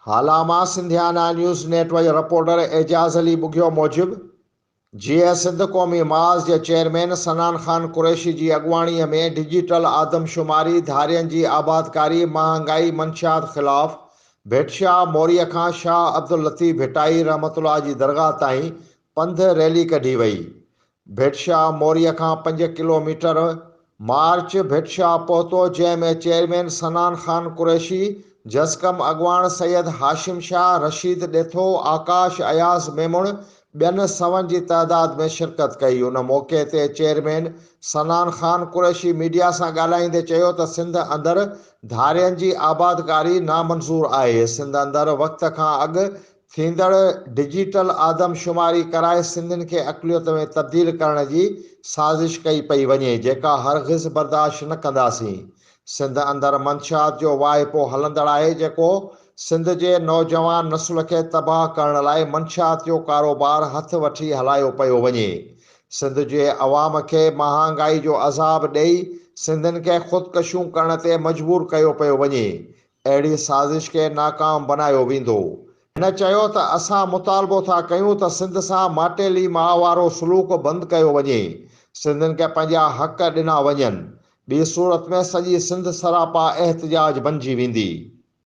هالا مان Sindhiana news network reporter Ejaz Ali Bughio موجب، جيئي سنڌ قومي محاذ جي چيئرمين سنان خان قريشي جي اڳواڻي ۾ ڊجيٽل آدمشماري، ڌارين جي آبادڪاري، مهانگائي، منشيات خلاف، ڀٽ شاهه موريء کان شاهه عبداللطيف ڀٽائي رحمة الله جي درگاهه تائين پنڌ ريلي ڪڍي وئي. ڀٽشاهه موريء کان پنج ڪلو ميٽر مارچ ڀٽشاهه پهتو جنهن ۾ چيئرمين سنان خان قريشي، جسقم اڳواڻ سيد هاشم شاهه، رشيد ڏيٿو، آڪاش، اياز ميمڻ ٻين سون جي تعداد ۾ شرڪت ڪئي ان موقعي تي چيئرمين سنان خان قريشي ميڊيا سان ڳالهائيندي چيو ته سنڌ اندر ڌارين جي آبادگاري نامنظور آهي سنڌ اندر وقت کان اڳ ٿيندڙ ڊجيٽل آدمشماري ڪرائي سنڌين کي اقليت ۾ تبديل ڪرڻ جي سازش ڪئي پئي وڃي جيڪا هرگز برداشت نه ڪنداسين. سنڌ اندر منشيات جو واهپو هلندڙ آهي جيڪو سنڌ جي نوجوان نسل کي تباهه ڪرڻ لاء منشيات جو ڪاروبار هٿ وٺي هلايو پيو وڃي سنڌ جي عوام کي مهانگائي جو عذاب ڏئي سنڌين کي خودڪشيون ڪرڻ تي مجبور ڪيو پيو وڃي اهڙي سازش کي ناڪام بنايو ويندو. هن چيو ته اسان مطالبو ٿا ڪيون ته سنڌ سان ماٽيلي ماء وارو سلوڪ بند ڪيو وڃي، سنڌين کي پنهنجا حق ڏنا وڃن، ٻي صورت ۾ سڄي سنڌ سراپا احتجاج بنجي ويندي.